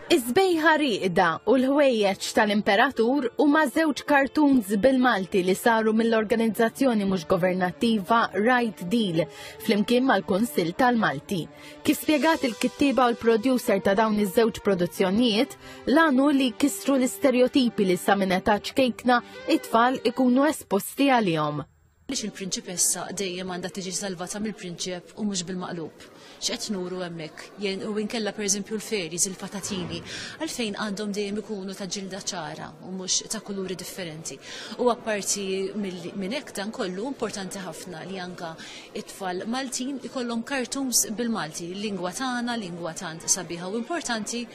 Iż-żbejħa riqda u l-ħwejjeġ tal-Imperatur huma żewġ kartuns bil-Malti li saru mill-organizzazzjoni mhux governattiva Right Deal flimkien mal-Kunsill tal-Malti. Kif spjegat il-kittieba u l-producer ta' dawn iż-żewġ produzzjonijiet, l-għanu li kisru l-istereotipi li sa minn età ċkejkna it-tfal ikunu esposti għalihom. Għaliex il-prinċipessa dejjem għandha tiġi salvata mill-prinċep u mhux bil-maqlub? X'qed nuru hemmhekk? Jien u inkella pereżempju l-fairies, il-patatini, għalfejn għandhom dejjem ikunu ta' ġilda ċara u mhux ta' kuluri differenti. U apparti minn hekk dan kollu importanti ħafna li anka it-tfal Maltin ikollhom cartoons bil-Malti, lingwa tagħna, lingwa tant sabiħa u importanti,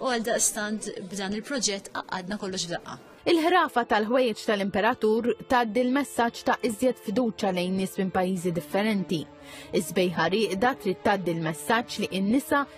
u għal daqstant b'dan il-proġett qaqqadna kollox f'daqqa. Il-ħrafa tal-ħwejjeġ tal-imperatur tgħaddi l-messaġġ ta' iżjed fiduċja lejn nies minn pajjiżi differenti. Iż-żbejħa rieqda trid tgħaddi l-messaġġ li n-nisa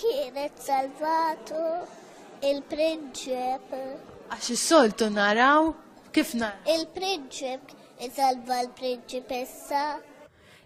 Kienet salvatu il-prinċep. Għax is-soltu naraw kif nar. Il-prinċep isalva l-prinċipessa.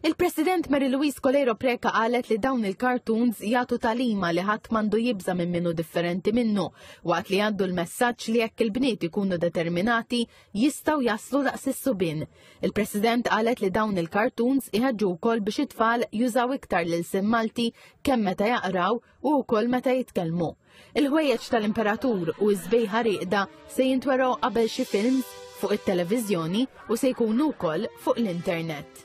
Il-President Mary Louise Coleiro Preca qalet li dawn il-cartoons jagħtu talima li ħadd mandu jibża minn minnu differenti minnu, waqt li għaddu l-messaġġ li jekk il-bniet ikunu determinati jistgħu jaslu daqs is-subin. Il-President qalet li dawn il-kartuns iħeġġu wkoll biex it-tfal jużaw iktar lil sim Malti kemm meta jaqraw u wkoll meta jitkellmu. Il-ħwejjeġ tal-Imperatur u ż-żbejħa rieqda se jintwergħu qabel xi films fuq it-televiżjoni u se jkunu wkoll fuq l-internet.